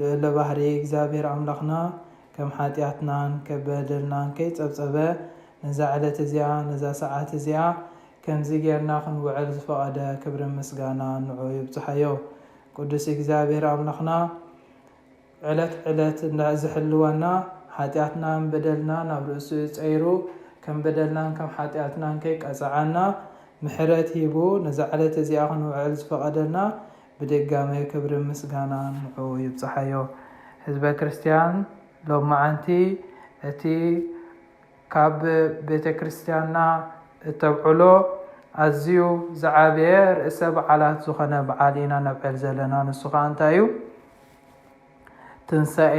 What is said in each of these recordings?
ልዑለ ባህሪ እግዚኣብሔር ኣምላኽና ከም ሓጢኣትናን ከም በደልናን ከይጸብጸበ ነዛ ዕለት እዚኣ ነዛ ሰዓት እዚኣ ከምዚ ጌርና ክንውዕል ዝፈቐደ ክብርን ምስጋና ንዑኡ ይብጽሓዮ። ቅዱስ እግዚኣብሔር ኣምላኽና ዕለት ዕለት እንዳ ዝሕልወና ሓጢኣትናን በደልናን ኣብ ርእሱ ጸይሩ ከም በደልናን ከም ሓጢኣትናን ከይቀጸዓና ምሕረት ሂቡ ነዛ ዕለት እዚኣ ክንውዕል ዝፈቐደልና ብድጋሜ ክብርን ምስጋናን ንዑኡ ይብጻሓዮ። ህዝበ ክርስትያን ሎምዓንቲ እቲ ካብ ቤተ ክርስትያንና እተብዕሎ ኣዝዩ ዝዓበየ ርእሰ በዓላት ዝኾነ በዓል ኢና ነብዕል ዘለና ንሱ ከኣ እንታይ እዩ ትንሳኤ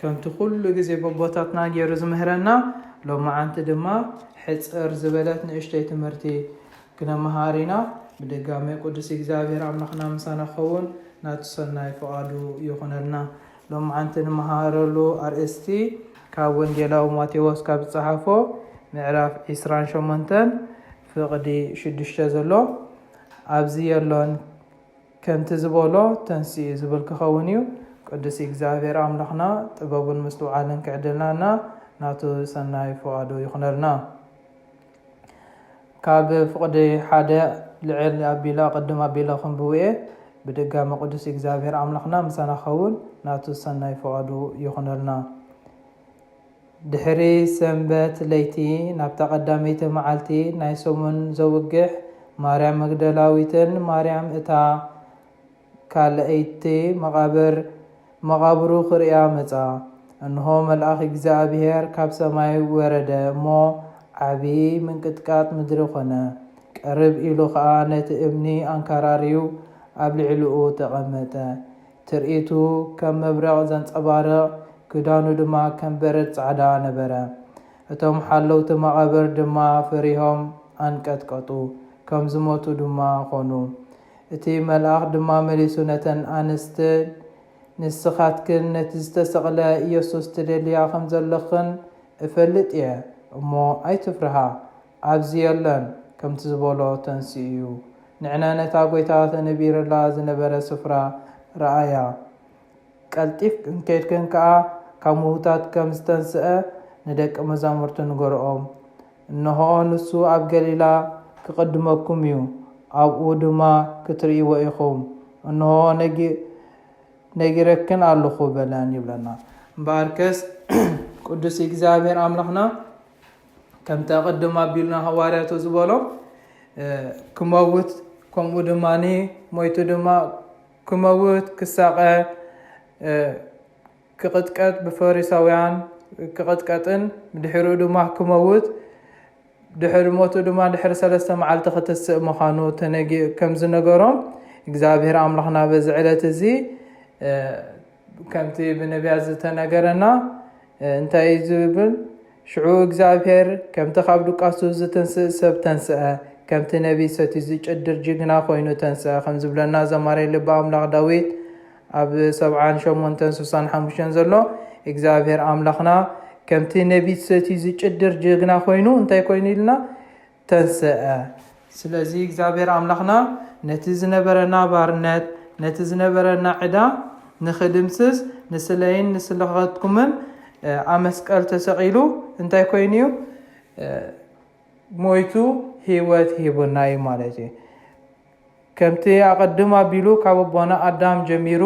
ከምቲ ኩሉ ግዜ በቦታትና ጌሩ ዝምህረና ሎማዓንቲ ድማ ሕጽር ዝበለት ንእሽቶይ ትምህርቲ ክነማሃር ኢና ብድጋሜ ቁዱስ ኢግዚኣብሄር ኣምላክና ምሳና ክከውን ናቱ ሰናይ ፍቃዱ ይኩነልና ሎማዓንቲ ንማሃረሉ ኣርእስቲ ካብ ወንጌላዊ ማቴዎስ ካብ ዝጻሓፎ ምዕራፍ ዕስራን ሸሞንተን ፍቅዲ ሽዱሽተ ዘሎ ኣብዚ የሎን ከምቲ ዝበሎ ተንሲኡ ዝብል ክኸውን እዩ። ቅዱስ እግዚኣብሔር ኣምላኽና ጥበቡን ምስትውዓልን ክዕድልና እና ናቱ ሰናይ ፍቓዱ ይኹነልና። ካብ ፍቕዲ ሓደ ልዕል ኣቢለ ኣቐድም ኣቢለ ከንብቡ እየ። ብድጋሚ ቅዱስ እግዚኣብሔር ኣምላኽና ምሳና ክኸውን ናቱ ሰናይ ፍቓዱ ይኹነልና። ድሕሪ ሰንበት ለይቲ ናብታ ቀዳመይቲ መዓልቲ ናይ ሰሙን ዘውግሕ ማርያም መግደላዊትን ማርያም እታ ካልኣይቲ መቓብር መቓብሩ ክርእያ መጻ። እንሆ መልኣኽ እግዚኣብሔር ካብ ሰማይ ወረደ እሞ ዓቢ ምንቅጥቃጥ ምድሪ ኮነ። ቅርብ ኢሉ ከኣ ነቲ እምኒ ኣንካራርዩ ኣብ ልዕልኡ ተቐመጠ። ትርኢቱ ከም መብረቕ ዘንጸባርቕ፣ ክዳኑ ድማ ከም በረድ ጻዕዳ ነበረ። እቶም ሓለውቲ መቓብር ድማ ፈሪሆም ኣንቀጥቀጡ፣ ከም ዝሞቱ ድማ ዀኑ። እቲ መልኣኽ ድማ መሊሱ ነተን ኣንስቲ፣ ንስኻትክን ነቲ ዝተሰቕለ የሱስ ትደልያ ኸም ዘለኽን እፈልጥ እየ እሞ፣ ኣይትፍርሃ። ኣብዚ የለን ከምቲ ዝበሎ ተንሲኡዩ ንዕነ ነታ ጎይታ ተነቢርላ ዝነበረ ስፍራ ረኣያ ቀልጢፍክን ከድክን ከኣ ካብ ምውታት ከም ዝተንስኣ ንደቂ መዛሙርቱ ንገርኦም እንሆ ንሱ ኣብ ገሊላ ክቅድመኩምዩ ኣብኡ ድማ ክትርእይዎ ኢኩም እንሆ ነጊረክን ኣሎኩ በለን ይብለና እምበኣርከስ ቅዱስ እግዚኣብሔር ኣምላክና ከምቲ ኣቐድም ኣቢልና ሃዋርያቱ ዝበሎ ክመውት ከምኡ ድማ ሞይቱ ድማ ክመውት ክሳቐ ክቕጥቀጥ ብፈሪሳውያን ክቕጥቀጥን ድሕሪኡ ድማ ክመውት ድሕሪ ሞቱ ድማ ድሕሪ ሰለስተ መዓልቲ ክትስእ ምዃኑ ተነጊ ከም ዝነገሮም እግዚኣብሔር ኣምላኽና በዚ ዕለት እዚ ከምቲ ብነቢያት ዝተነገረና እንታይ እዩ ዝብል? ሽዑ እግዚኣብሔር ከምቲ ካብ ድቃሱ ዝትንስእ ሰብ ተንስኣ፣ ከምቲ ነቢይ ሰትዩ ዝጭድር ጅግና ኮይኑ ተንስኣ ከም ዝብለና ዘማርይ ልቢ ኣምላኽ ዳዊት ኣብ ሰብዓን ሸሞንተን ስሳን ሓሙሽተን ዘሎ እግዚኣብሔር ኣምላኽና ከምቲ ነቢት ሰትዩ ዝጭድር ጅግና ኮይኑ እንታይ ኮይኑ ኢልና ተንሰኣ። ስለዚ እግዚኣብሔር ኣምላኽና ነቲ ዝነበረና ባርነት፣ ነቲ ዝነበረና ዕዳ ንኽድምስስ ንስለይን ንስለኻትኩምን ኣመስቀል ተሰቒሉ እንታይ ኮይኑ እዩ? ሞይቱ ህይወት ሂቡና እዩ ማለት እዩ። ከምቲ ኣቐድም ኣቢሉ ካብ ኣቦና ኣዳም ጀሚሩ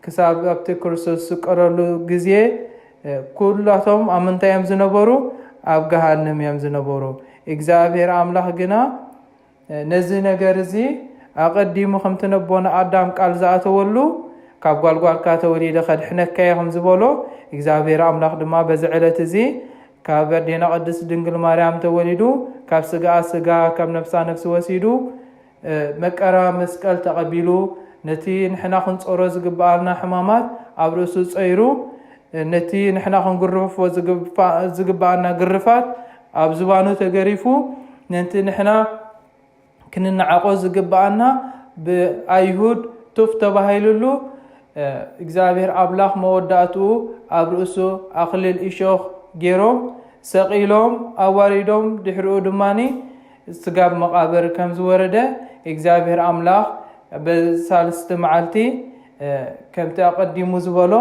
ክሳብ ኣብቲ ክርስቶስ ዝስቀለሉ ግዜ ኩላቶም ኣብ ምንታይ እዮም ዝነበሩ? ኣብ ገሃንም እዮም ዝነበሩ። እግዚኣብሔር ኣምላኽ ግና ነዚ ነገር እዚ ኣቐዲሙ ከምቲ ነቦና ኣዳም ቃል ዝኣተወሉ ካብ ጓልጓልካ ተወሊደ ከድሕነካ እየ ከም ዝበሎ እግዚኣብሔር ኣምላኽ ድማ በዚ ዕለት እዚ ካብ ኣዴና ቅድስት ድንግል ማርያም ተወሊዱ ካብ ስጋኣ ስጋ ካብ ነፍሳ ነፍሲ ወሲዱ መቀራ መስቀል ተቐቢሉ ነቲ ንሕና ክንጾሮ ዝግብኣና ሕማማት ኣብ ርእሱ ጸይሩ ነቲ ንሕና ክንግርፎ ዝግብኣና ግርፋት ኣብ ዝባኑ ተገሪፉ ነንቲ ንሕና ክንነዓቆ ዝግበኣና ብኣይሁድ ቱፍ ተባሂሉሉ እግዚኣብሔር ኣምላኽ መወዳእትኡ ኣብ ርእሱ ኣኽሊል እሾኽ ጌሮም ሰቒሎም ኣዋሪዶም ድሕሪኡ ድማ ስጋብ መቓብር ከም ዝወረደ እግዚኣብሔር ኣምላኽ በሳልስቲ መዓልቲ ከምቲ ኣቐዲሙ ዝበሎ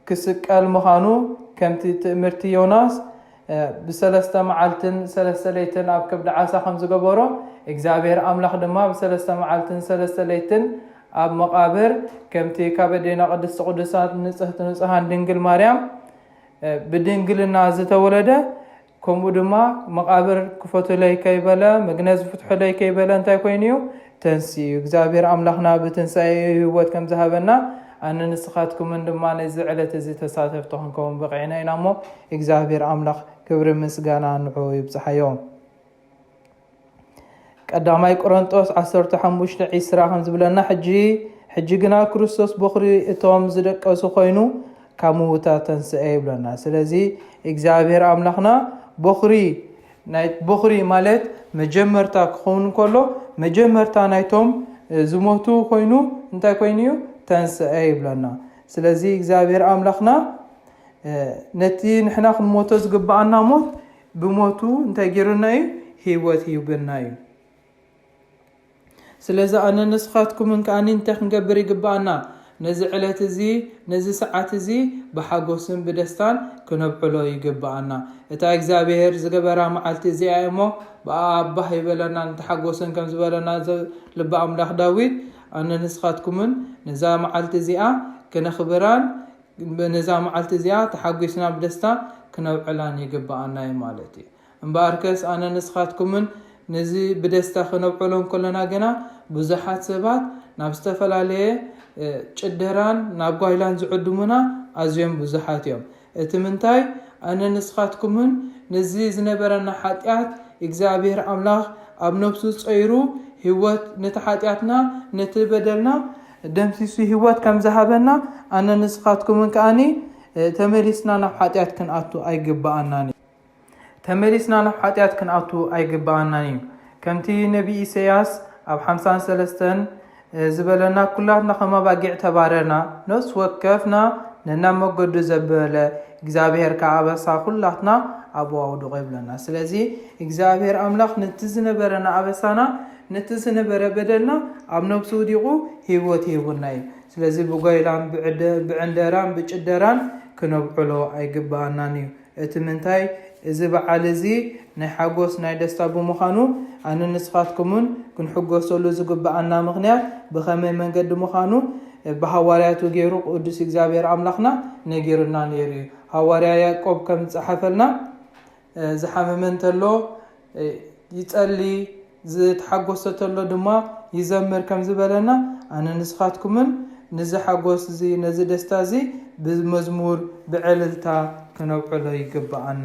ክስቀል ምኻኑ ከምቲ ትእምርቲ ዮናስ ብሰለስተ መዓልትን ሰለስተ ለይትን ኣብ ከብዲ ዓሳ ከም ዝገበሮ እግዚኣብሔር ኣምላኽ ድማ ብሰለስተ መዓልትን ሰለስተ ለይትን ኣብ መቓብር ከምቲ ካብ ኣዴና ቅድስቲ ቅዱሳን ንጽህቲ ንጹሃን ድንግል ማርያም ብድንግልና ዝተወለደ ከምኡ ድማ መቓብር ክፈቱለይ ከይበለ መግነዝ ፍትሑለይ ከይበለ እንታይ ኮይኑ እዩ ተንሲኡ እግዚኣብሔር ኣምላኽና ብትንሣኤ ህይወት ከም ዝሃበና ኣነ ንስኻትኩምን ድማ ነዚ ዕለት እዚ ተሳተፍቲ ክንከውን በቂዕና ኢና እሞ እግዚኣብሔር ኣምላኽ ክብሪ ምስጋና ንዑ ይብጽሓዮ ቀዳማይ ቁረንጦስ ዓሰርተ ሓሙሽተ ዒስራ ከም ዝብለና ሕጂ ሕጂ ግና ክርስቶስ ቦኽሪ እቶም ዝደቀሱ ኮይኑ ካብ ምውታት ተንስአ ይብለና ስለዚ እግዚኣብሔር ኣምላኽና ቦኽሪ ናይ ቦኽሪ ማለት መጀመርታ ክኸውን ከሎ መጀመርታ ናይቶም ዝሞቱ ኮይኑ እንታይ ኮይኑ እዩ ተንስአ ይብለና ስለዚ እግዚኣብሔር ኣምላኽና ነቲ ንሕና ክንሞቶ ዝግብኣና ሞት ብሞቱ እንታይ ጌሩና እዩ ሂወት ሂቡና እዩ ስለዚ ኣነን ንስኻትኩምን ከኣ እንታይ ክንገብር ይግብኣና ነዚ ዕለት እዚ ነዚ ሰዓት እዚ ብሓጎስን ብደስታን ክነብዕሎ ይግብኣና እታ እግዚኣብሄር ዝገበራ መዓልቲ እዚኣ እያ እሞ ብኣኣ ባህ ይበለናን ተሓጎስን ከም ዝበለና ልቢ ኣምላኽ ዳዊት ኣነን ንስኻትኩምን ነዛ መዓልቲ እዚኣ ክነኽብራን ነዛ መዓልቲ እዚኣ ተሓጒስና ብደስታ ክነብዕላን ይግብኣና'ዩ ማለት'ዩ። እምበኣርከስ ኣነን ንስኻትኩምን ነዚ ብደስታ ክነብዕሎ እንከሎና ግና ብዙሓት ሰባት ናብ ዝተፈላለየ ጭደራን ናብ ጓይላን ዝዕድሙና ኣዝዮም ብዙሓት'ዮም። እቲ ምንታይ ኣነን ንስኻትኩምን ነዚ ዝነበረና ሓጢኣት እግዚኣብሄር ኣምላኽ ኣብ ነብሱ ጸይሩ ህይወት ነቲ ሓጢኣትና ነቲ በደልና ደምሲሱ ሂወት ከም ዝሃበና ኣነን ንስኻትኩምን ከኣ ተመሊስና ናብ ሓጢኣት ክንኣቱ ኣይግብኣናን እዩ ተመሊስና ናብ ሓጢኣት ክንኣቱ ኣይግብኣናን እዩ ከምቲ ነቢይ ኢሰያስ ኣብ ሓምሳን ሰለስተን ዝበለና ኩላትና ከም ኣባጊዕ ተባረርና ነፍሲ ወከፍና ነናብ መገዱ ዘበለ እግዚኣብሄር ከዓ ኣበሳ ኩላትና ኣብኡ ኣውድቆ ይብለና ስለዚ እግዚኣብሄር ኣምላኽ ነቲ ዝነበረና ኣበሳና ነቲ ዝነበረ በደልና ኣብ ነብሱ ውዲቑ ሂወት ይህቡና እዩ ስለዚ ብጓይላን ብዕንደራን ብጭደራን ክነብዕሎ ኣይግበኣናን እዩ እቲ ምንታይ እዚ በዓል እዚ ናይ ሓጎስ ናይ ደስታ ብምዃኑ ኣነን ንስኻትኩምን ክንሕጎሰሉ ዝግበኣና ምኽንያት ብኸመይ መንገዲ ምዃኑ ብሃዋርያቱ ጌሩ ቅዱስ እግዚኣብሔር ኣምላኽና ነጊሩና ኔሩ እዩ ሃዋርያ ያእቆብ ከም ዝጸሓፈልና ዝሓመመ እንተሎ ይጸሊ ዝተሓጎሰ ተሎ ድማ ይዘምር ከም ዝበለና ኣነ ንስኻትኩምን ንዚ ሓጎስ እዚ ነዚ ደስታ እዚ ብመዝሙር ብዕልልታ ክነብዕሎ ይግብኣና።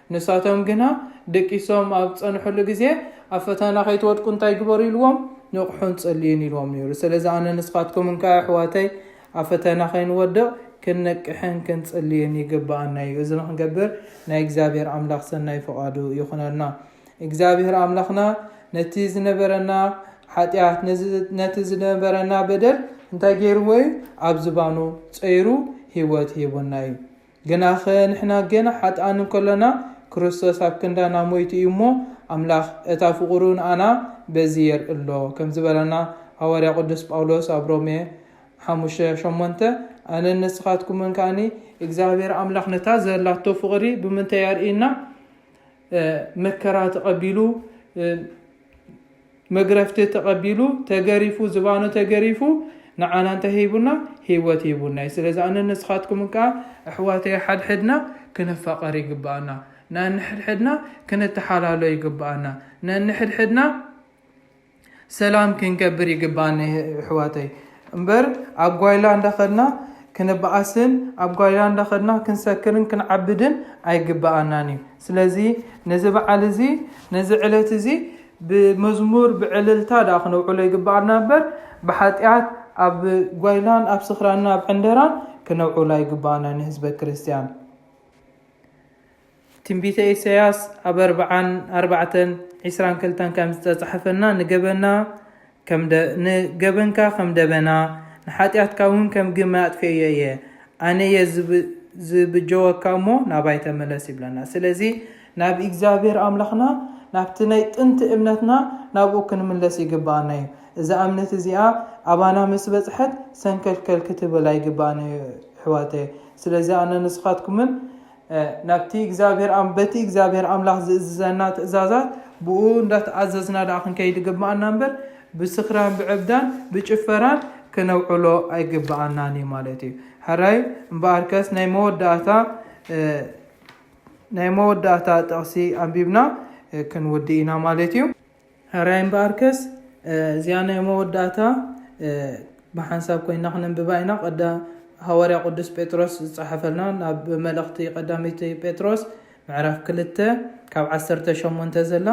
ንሳቶም ግና ደቂሶም ኣብ ዝጸንሕሉ ግዜ ኣብ ፈተና ከይትወድቁ እንታይ ግበሩ ኢልዎም? ንቕሑን ጸልዩን ኢልዎም ነይሩ። ስለዚ ኣነ ንስኻትኩምን ከኣ ኣሕዋተይ ኣብ ፈተና ከይንወድቕ ክንነቅሕን ክንጽልይን ይግብኣና እዩ። እዚ ንኽንገብር ናይ እግዚኣብሔር ኣምላኽ ሰናይ ፍቓዱ ይኹነልና። እግዚኣብሔር ኣምላኽና ነቲ ዝነበረና ሓጢኣት ነቲ ዝነበረና በደል እንታይ ገይርዎ እዩ? ኣብ ዝባኑ ጸይሩ ህይወት ሂቡና እዩ። ግናኸ ንሕና ገና ሓጥኣን እንከሎና ክርስቶስ ኣብ ክንዳና ሞይቱ እዩ እሞ ኣምላኽ እታ ፍቕሩ ንኣና በዚ የርኢ ኣሎ ከም ዝበለና ሃዋርያ ቅዱስ ጳውሎስ ኣብ ሮሜ ሓሙሽተ ሸሞንተ ኣነን ንስኻትኩምን ከኣኒ እግዚኣብሔር ኣምላኽ ነታ ዘላቶ ፍቕሪ ብምንታይ ኣርእዩና መከራ ተቐቢሉ መግረፍቲ ተቀቢሉ ተገሪፉ ዝባኑ ተገሪፉ ንዓና እንታይ ሂቡና ሂወት ሂቡና ዩ ስለዚ ኣነን ንስካትኩምን ከኣ ኣሕዋተይ ሓድሕድና ክንፋቀር ይግበኣና ነንሕድሕድና ክንተሓላሎ ይግበኣና ነንሕድሕድና ሰላም ክንገብር ይግበኣና የሕዋተይ እምበር ኣብ ጓይላ እንዳኸድና ክንበኣስን ኣብ ጓይላ እንዳኸድና ክንሰክርን ክንዓብድን ኣይግበኣናን እዩ። ስለዚ ነዚ በዓል እዚ ነዚ ዕለት እዚ ብመዝሙር ብዕልልታ ደኣ ክነውዕሎ ይግበኣና እምበር ብሓጢኣት ኣብ ጓይላን ኣብ ስኽራን ኣብ ዕንደራን ክነውዕሎ ኣይግበኣና ንህዝበ ክርስቲያን። ትንቢተ ኢሳያስ ኣብ ኣርብዓን ኣርባዕተን ዒስራን ክልተን ከም ዝተጻሕፈና ንገበና ከም ደ ንገበንካ ከም ደበና ንሓጢኣትካ እውን ከም ግመ ኣጥፌኤዮ እየ ኣነ እየ ዝብ ዝብጀወካ እሞ ናባይ ተመለስ ይብለና ስለዚ ናብ ኢግዛብሄር ኣምላኽና ናብቲ ናይ ጥንቲ እምነትና ናብኡ ክንምለስ ይግብኣና እዩ እዛ እምነት እዚኣ ኣባና ምስ በጽሐት ሰንከልከል ክትብል ኣይግብኣን እዩ ኣሕዋተየ ስለዚ ኣነ ንስኻትኩምን ናብቲ እግዚኣብሔር በቲ እግዚኣብሔር ኣምላኽ ዝእዝዘና ትእዛዛት ብእኡ እንዳተኣዘዝና ደኣ ክንከይድ ይግብኣና እምበር ብስኽራን ብዕብዳን ብጭፈራን ክነውዕሎ ኣይግብኣናን እዩ ማለት እዩ ሕራይ እምበኣርከስ ናይ መወዳእታ ናይ መወዳእታ ጥቕሲ ኣንቢብና ክንውዲ ኢና ማለት እዩ ሕራይ እምበኣርከስ እዚኣ ናይ መወዳእታ ብሓንሳብ ኮይና ክነንብባ ኢና። ቀዳ ሃዋርያ ቅዱስ ጴጥሮስ ዝጸሓፈልና ናብ መልእኽቲ ቀዳመይቲ ጴጥሮስ ምዕራፍ ክልተ ካብ ዓሰርተ ሸሞንተ ዘላ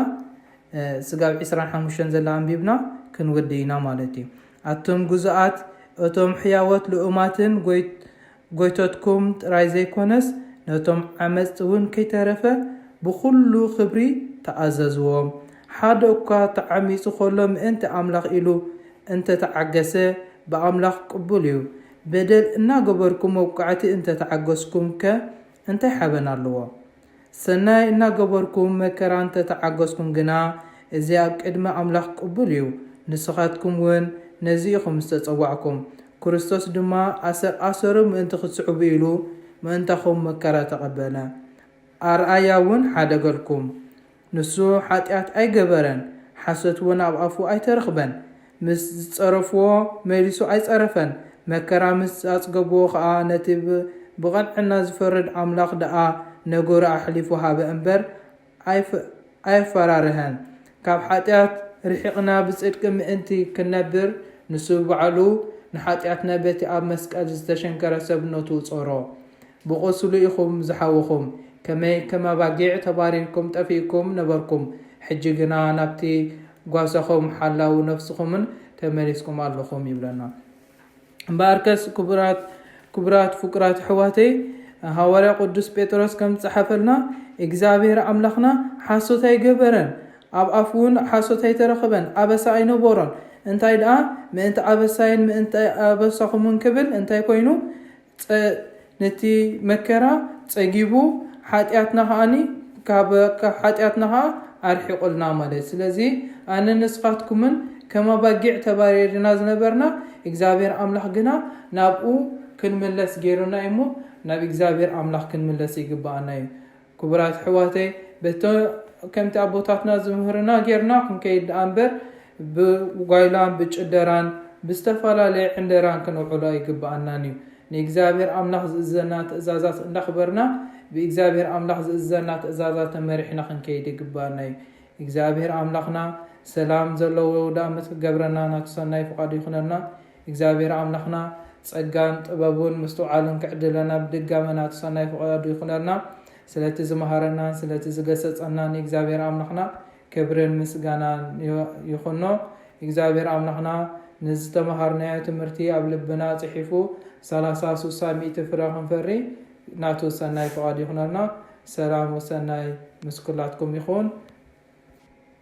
ስጋብ ዕስራን ሓሙሽተን ዘላ ኣንቢብና ክንውድእ ኢና ማለት እዩ። ኣቱም ግዙኣት እቶም ሕያዎት ልኡማትን ጎይ ጎይቶትኩም ጥራይ ዘይኮነስ ነቶም ዓመጽቲ እውን ከይተረፈ ብኹሉ ክብሪ ተኣዘዝዎ። ሓደ እኳ ተዓሚጹ ከሎ ምእንቲ ኣምላኽ ኢሉ እንተ ተዓገሰ ብኣምላኽ ቅቡል እዩ። በደል እናገበርኩም መውቃዕቲ እንተ ተዓገስኩምከ እንታይ ሓበን ኣለዎ? ሰናይ እናገበርኩም መከራ እንተ ተዓገስኩም ግና፣ እዚ ኣብ ቅድሚ ኣምላኽ ቅቡል እዩ። ንስኻትኩምውን ነዚ ኢኹም ዝተጸዋዕኩም። ክርስቶስ ድማ ኣሰር ኣሰሩ ምእንቲ ኽትስዕቡ ኢሉ ምእንታኹም መከራ ተቐበለ። ኣርኣያውን ሓደገልኩም። ንሱ ሓጢኣት ኣይገበረን፣ ሓሶት እውን ኣብ ኣፉ ኣይተረኽበን። ምስ ዝጸረፍዎ መሊሱ ኣይጸረፈን፣ መከራ ምስ ኣጽገብዎ ኸኣ ነቲ ብቐንዕና ዝፈርድ ኣምላኽ ደኣ ነገሩ ኣሕሊፉ ሃበ እምበር ኣየፈራርሀን። ካብ ሓጢኣት ርሒቕና ብጽድቂ ምእንቲ ክንነብር ንሱ ባዕሉ ንሓጢኣትና በቲ ኣብ መስቀል ዝተሸንከረ ሰብነቱ ጾሮ። ብቑስሉ ኢኹም ዝሓውኹም። ከመይ ከም ኣባጊዕ ተባሪርኩም ጠፊእኩም ነበርኩም፣ ሕጂ ግና ናብቲ ጓሳኹም ሓላው ነፍስኹምን ተመሊስኩም ኣለኹም ይብለና። እምበኣርከስ ክቡራት ክቡራት ፍቁራት ኣሕዋተይ ሃዋርያ ቅዱስ ጴጥሮስ ከም ዝጸሓፈልና እግዚኣብሔር ኣምላኽና ሓሶት ኣይገበረን ኣብ ኣፉ እውን ሓሶት ኣይተረኽበን ኣበሳ ኣይነበሮን እንታይ ደኣ ምእንቲ ኣበሳይን ምእንቲ ኣበሳኹምን ክብል እንታይ ኮይኑ ጸ ነቲ መከራ ጸጊቡ ሓጢኣትና ከኣ ካብ ሓጢኣትና ከኣ ኣርሒቑልና ማለት ስለዚ ኣነ ንስኻትኩምን ከም ኣባጊዕ ተባሪርና ዝነበርና እግዚኣብሔር ኣምላኽ ግና ናብኡ ክንምለስ ገይሩና እዩሞ ናብ እግዚኣብሔር ኣምላኽ ክንምለስ ይግብኣና እዩ ክቡራት ኣሕዋተይ በቲ ከምቲ ኣቦታትና ዝምህሩና ጌርና ክንከይድ ደኣ እምበር ብጓይላን ብጭደራን ብዝተፈላለየ ዕንደራን ክነውዕሎ ኣይግበኣናን እዩ። ንእግዚኣብሔር ኣምላኽ ዝእዝዘና ትእዛዛት እንዳኽበርና ብእግዚኣብሔር ኣምላኽ ዝእዝዘና ትእዛዛት ተመሪሕና ክንከይድ ይግበኣና እዩ። እግዚኣብሔር ኣምላኽና ሰላም ዘለዎ የውዳኣመት ክገብረና ናቱ ሰናይ ፍቓዱ ይኹነልና። እግዚኣብሔር ኣምላኽና ጸጋን ጥበቡን ምስትውዓሉን ክዕድለና ብድጋመ ናቱ ሰናይ ፍቃዱ ይኹነልና። ስለቲ ዝመሃረናን ስለቲ ዝገሰጸናን ንእግዚኣብሔር ኣምላኽና ክብርን ምስጋናን ይኹኖ። እግዚኣብሔር ኣምላኽና ንዝተመሃርናዮ ትምህርቲ ኣብ ልብና ጽሒፉ ሰላሳ ሱሳ ሚእቲ ፍረ ክንፈሪ ናቱ ሰናይ ፍቃዱ ይኹነልና። ሰላም ወሰናይ ምስ ኩላትኩም ይኹን።